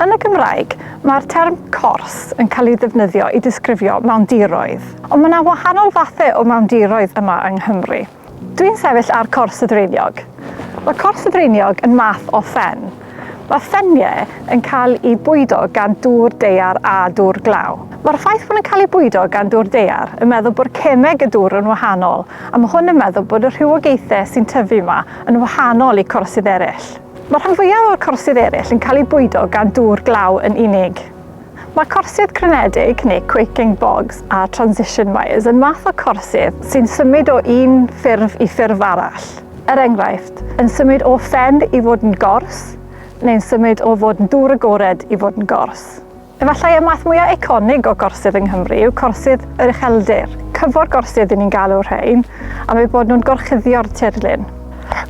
Yn y Gymraeg, mae'r term cors yn cael ei ddefnyddio i ddisgrifio mawndiroedd. Ond mae yna wahanol fathau o mawndiroedd yma yng Nghymru. Dwi'n sefyll ar cors y ddraeniog. Mae cors y ddraeniog yn math o ffen. Mae ffeniau yn cael eu bwydo gan dŵr daear a dŵr glaw. Mae'r ffaith bod nhw'n cael eu bwydo gan dŵr daear yn meddwl bod cemeg y dŵr yn wahanol a mae hwn yn meddwl bod y rhywogaethau sy'n tyfu yma yn wahanol i corsydd eraill. Mae'r rhan fwyaf o'r corsydd eraill yn cael eu bwydo gan dŵr glaw yn unig. Mae corsydd crynedig, neu quaking bogs, a transition wires yn fath o corsydd sy'n symud o un ffurf i ffurf arall. Er enghraifft, yn symud o ffen i fod yn gors, neu'n symud o fod yn dŵr agored i fod yn gors. Efallai y math mwyaf eiconig o gorsydd yng Nghymru yw corsydd yr ucheldir. Cyfor gorsydd y'n ni'n galw rhain, am eu bod nhw'n gorchuddio'r tirlun.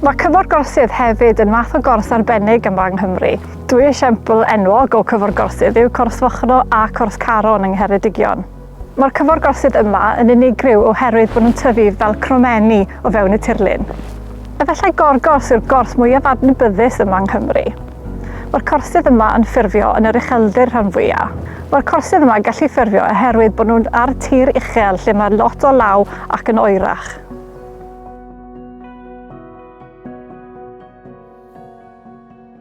Mae cyfor gorsydd hefyd yn fath o gors arbennig yma yng Nghymru. Dwy esiampl enwog o cyforgorsydd yw Corthfochno a Corthcaron yng Ngheredigion. Mae'r cyforgorsydd yma yn unigryw oherwydd bod nhw'n tyfu fel cromenni o fewn y tirlun. Efallai gorgors yw'r gorth mwyaf adnabyddus yma yng Nghymru. Mae'r corsydd yma yn ffurfio yn yr ucheldir rhan fwya'. Mae'r corsydd yma yn gallu ffurfio oherwydd bod nhw'n ar tir uchel lle mae lot o law ac yn oerach.